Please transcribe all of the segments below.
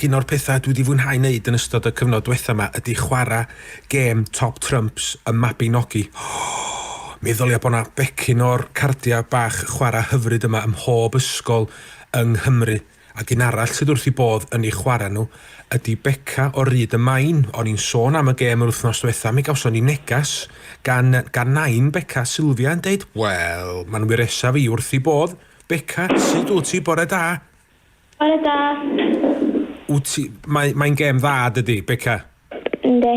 Un o'r pethau dwi 'di fwynhau 'neud yn ystod y cyfnod dwetha 'ma ydi chwara' gêm Top Trumps y Mabinogi. Meddylia bo' 'na becyn o'r cardia' bach chwara' hyfryd yma ym mhob ysgol yng Nghymru. Ac un arall sydd wrth 'i bodd yn eu chwara' nhw ydi Beca o Ryd y Maen. O'n i'n sôn am y gêm yr wythnos dwetha, mi gawson ni negas gan gan nain Beca, Sylfia, yn deud, 'Wel, ma'n wyresaf i wrth 'i bodd. Beca, sud wt ti? Bore da! Bore da. Wt ti, mae, mae'n gêm dda dydi, Beca? Yndi.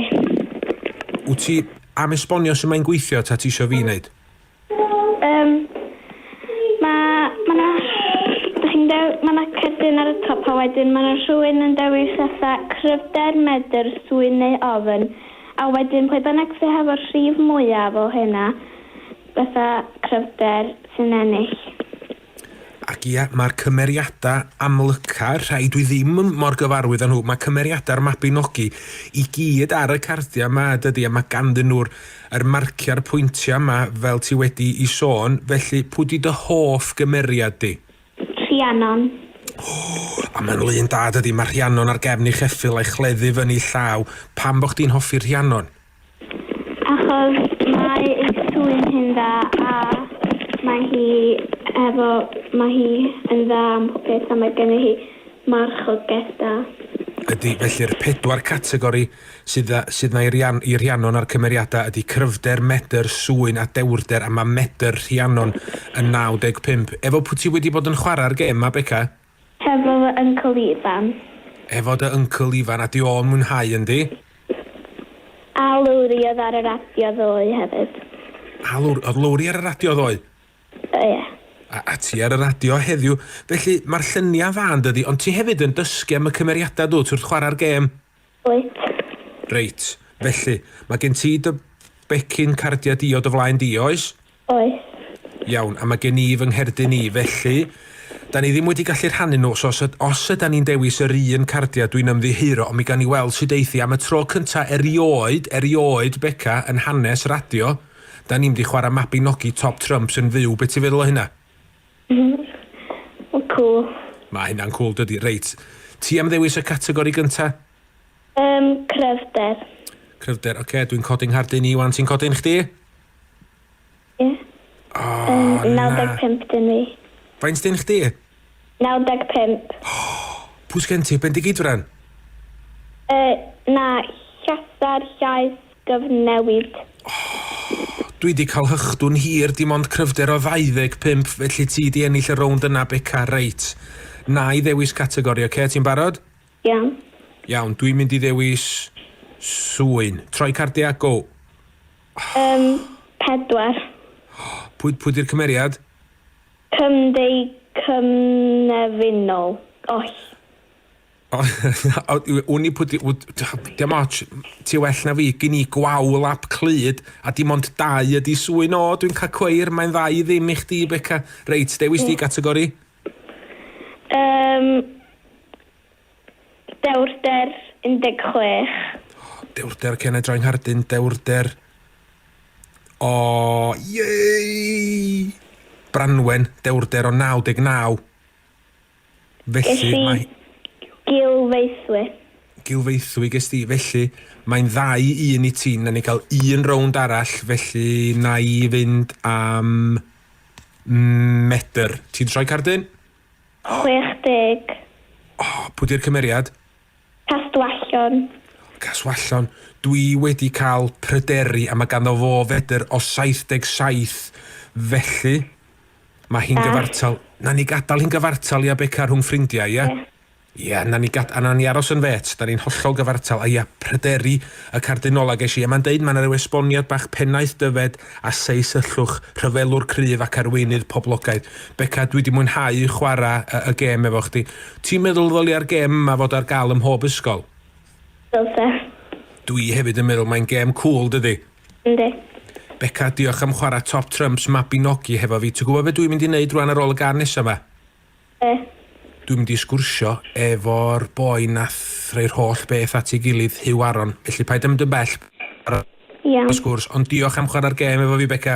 Wt ti am esbonio sut mae'n gweithio ta ti isio fi neud? Yym, ma', ma' 'na, dych chi'n dew- ma' 'na cerdyn ar y top a wedyn ma' 'na rhywun yn dewis fatha cryfder, medr, swyn neu ofn, a wedyn pwy bynnag sy hefo'r rhif mwyaf o hynna, fatha cryfder, sy'n ennill. Ac ia, mae'r cymeriadau amlyca, rhai dwi ddim mor gyfarwydd â nhw, mae cymeriadau'r Mabinogi i gyd ar y cardiau yma, dydy, a mae ganddyn nhw'r yr marciau a'r pwyntiau yma, fel ti wedi'i sôn, felly pwy 'di dy hoff gymeriad di? Rhiannon. O! A mae'n lun da, dydy, mae Rhiannon ar gefn ei cheffyl a'i chleddu fyny ei llaw, pam bo' chdi'n hoffi Rhiannon? Achos mae ei swyn hi'n dda a mae hi efo mae hi yn dda am popeth a mae gennyf hi marchogaeth da. Ydy, felly'r pedwar categori sydd a sydd na i Rhian- i Rhiannon a'r cymeriadau ydy cryfder, medr, swyn a dewrder a mae medr Rhiannon yn 95. Efo pwy ti wedi bod yn chwarae'r gêm 'ma Beca? Hefo fy uncle ifan. Hefo dy uncle ifan a di o'n mwynhau yndi? A lowriodd ar y radio ddoe hefyd. A lowr- odd lowri ar y radio ddoe? O ie. A a ti ar y radio heddiw. Felly ma'r llynia dda yndydi ond ti hefyd yn dysgu am y cymeriada dwt wrth chwara'r gêm? Wyt. Reit, felly, mae gen ti dy becyn cardiau diod o flaen di, oes? Oes. Iawn, a mae gen i fy ngherdyn i, felly, 'da ni ddim wedi gallu rhannu nhw, so os, os ydan ni'n dewis yr un cardiau dwi'n ymddiheuro, ond mi gawn ni weld sut eith hi. Am y tro cynta erioed, erioed, Beca, yn hanes radio, 'da ni'm 'di chwarae Mabinogi Top Trumps yn fyw, be' ti'n feddwl o hynna? Mae'n cwl. Mae hynna'n cwl dydi? Reit, ti am ddewis y categori gynta? Yym, cryfder. Cryfder, ocê, dwi'n codi'n nghardyn i wan, ti'n codi'n chdi? Ie. O, na. 95 dyn fi. Faint dyn chdi? 95. Pwy sgen ti, Bendigeidfran? Yy, na, Llasar, Llaes. gyfnewid. Ohh! Dwi 'di cael hychdw'n hir, dim ond cryfder o 25, felly ti 'di ennill y rownd yna Beca, reit. Na'i ddewis categori, ocê, ti'n barod? Iawn. Iawn, dwi'n mynd i ddewis sŵyn. Troi cardiau a go! Yym, pedwar. Pwy, pwy 'di'r cymeriad? Cymdeicymnefinol, oll. Wn i pwy... Dim ots, ti well na fi, gyn i gwawl ap clyd, a dim ond dau ydi swy'n o, dwi'n cael cweir, mae'n dda i ddim i chdi, Beca. Reit, dewis di gategori? Yym... Dewrder 16. Dewrder Cenedra Nghardyn, dewrder... O, iei! Branwen, dewrder o 99. Felly, mae... Ges i gilfeithwy. Gilfeithwy ges di, felly, mae'n ddau i un i ti. Nawn ni gael un rownd arall, felly na i fynd am medr. Ti'n troi cardyn? 60. O, pwy di'r cymeriad? Castwallon. Castwallon, dwi wedi cael pryderi a mae ganddo fo fedr o 77 felly mae hi'n gyfartal, na ni gadael hi'n gyfartal ia Beca rhwng ffrindiau ia? Ia, na ni gad, a na ni aros yn fêt, da ni'n hollol gyfartal, a ia, pryderi y cardinol a ges i, a mae'n deud mae yna ryw esboniad bach pennaeth dyfed a seis yllwch, rhyfelwr cryf ac arweinydd poblogaidd. Beca, dwi wedi mwynhau chwarae y gêm efo chdi. Ti'n meddwl ddolia'r gem 'ma fod ar gael ym mhob ysgol? Dylse. Dw i hefyd yn meddwl, mae'n gem cŵl, dydi? Yndi. Beca, diolch am chwarae Top Trumps Mabinogi hefo fi. Ti'n gwybod be dw i'n mynd i wneud rwan ar ôl y gân nesa 'ma? Be? Dw i'n mynd i sgwrsio efo'r boi nath rhoi'r holl beth at ei gilydd, Huw Aron. Felly paid â mynd yn bell, paid â Iawn. sgwrs, ond diolch am chwarae'r gem efo fi, Beca.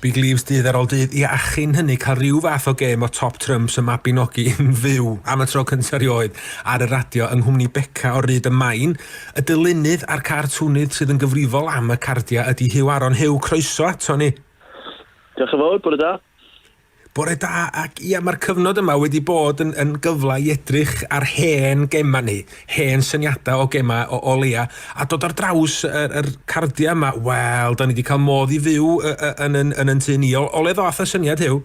Big Leaves dydd ar ol dydd ia a chyn hynny cael rhyw fath o gêm o Top Trumps y Mabinogi yn fyw am y tro cynta rioed ar y radio yng nghwmni Beca o Ryd y Maen. Y dylunydd a'r cartwnydd sydd yn gyfrifol am y cardia ydi Huw Aron. Huw, croeso ato ni! Diolch yn fawr, bore da. Bore da, ac ia, mae'r cyfnod yma wedi bod yn, yn gyfle i edrych ar hen gemau ni, hen syniadau o gemau o, o leia, a dod ar draws yr, yr cardiau yma, wel, da ni wedi cael modd i fyw y, y, yn, yn, yn yn tu ni. O, o le ddoth y syniad hyw?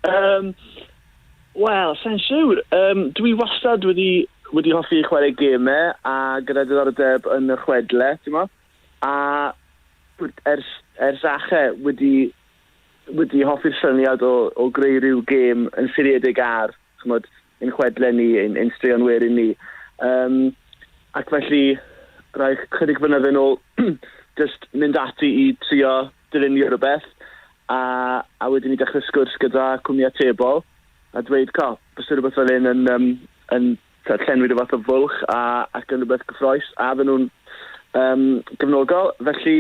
Um, Wel, sa'n siwr. Um, dwi wastad wedi, wedi hoffi chwarae gemau a gyda diddordeb yn y chwedle, ti'n mo? A ers, ers ache wedi wedi hoffi'r syniad o o greu rhyw gêm yn seiliedig ar, ch'mod, ein chwedle ni, ein ein straeon werin ni. Yym ac felly rai chydig flynydde nôl jyst mynd ati i trio dylunio rhywbeth a a wedyn ni dechrau sgwrs gyda cwmni atebol a dweud co, byse rhywbeth fel hyn yn yym yn tibod, llenwi rhyw fath o fwlch a, ac yn rhywbeth gyffroes a fydden nhw'n um, gefnogol. Felly,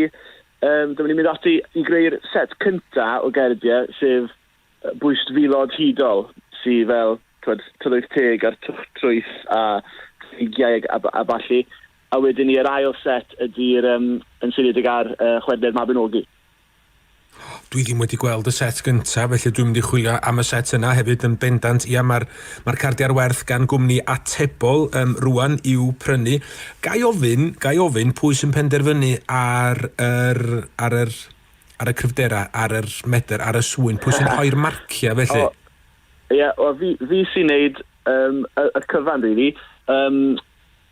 um, dyma ni'n mynd ati i greu'r set cynta o gerdiau, sef bwyst filod hudol, sydd fel twed, tylwyth teg a'r twch trwyth a ffrigiau a, a, a balli. A wedyn ni, yr ail set ydy'r um, yn seiliedig ar uh, chwedlau'r Mabinogi. Dwi ddim wedi gweld y set gyntaf, felly dwi'n mynd i chwilio am y set yna hefyd yn bendant. Ia, mae'r ma cardiau ar werth gan gwmni atebol um, rwan i'w prynu. Gai ofyn, gai ofyn pwy sy'n penderfynu ar yr, ar yr, ar y cryfderau, ar yr medr, ar y sŵyn, pwy sy'n rhoi'r marciau felly? Ie, yeah, fi, fi sy'n neud um, y, y cyfan, really. Um,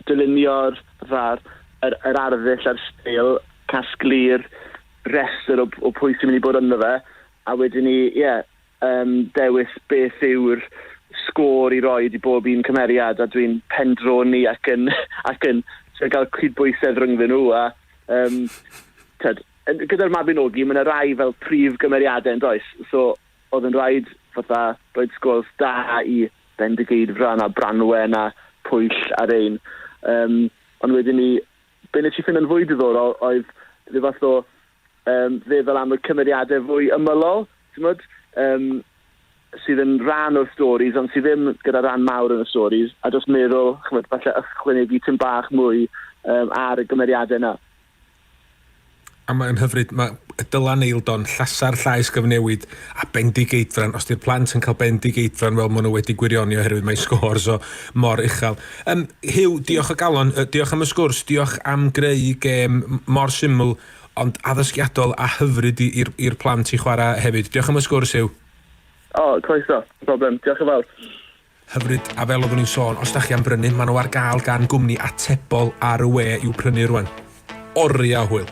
dylunio'r fatha'r yr yr arddull a'r steil, casglu'r rhestr o o pwy sy'n mynd i bod ynddo fe, a wedyn 'ny ie yym dewis beth yw'r sgôr i roid i bob un cymeriad a dwi'n pendroni ac yn ac yn trio cael cydbwysedd rhyngddyn nhw a yym t'od yn gyda'r Mabinogi ma' 'na rai fel prif gymeriade yndoes? So Oedd yn rhaid fatha rhoid sgwrs da i Bendigeidfran a Branwen a Pwyll a rhein. Yym, ond wedyn 'ny, be' nes i ffindo yn fwy diddorol oedd rhyw fath o yym feddwl am y cymeriade fwy ymylol, t'mod? Yym, sydd yn rhan o'r storis ond sy ddim gyda ran mawr yn y storis, a jyst meddwl, ch'mod, falle ychwanegu tym bach mwy yym ar y gymeriade 'na. A mae'n hyfryd, mae y Dylan Eildon, llasar llaes gyfnewid a bendigeidfran, os di'r plant yn cael bendigeidfran, wel, maen nhw wedi gwirioni oherwydd mae scores o mor uchel. Um, Hugh, diolch o galon, diolch am y sgwrs, diolch am greu gêm mor syml ond addysgiadol a hyfryd i'r plant i chwarae hefyd. Diolch am y sgwrs, Hugh. O, oh, croeso, problem, diolch yn fawr. Hyfryd, a fel oeddwn i'n sôn, os da chi am brynu, maen nhw ar gael gan gwmni atebol ar y we i'w prynu rwan. Oriau o hwyl!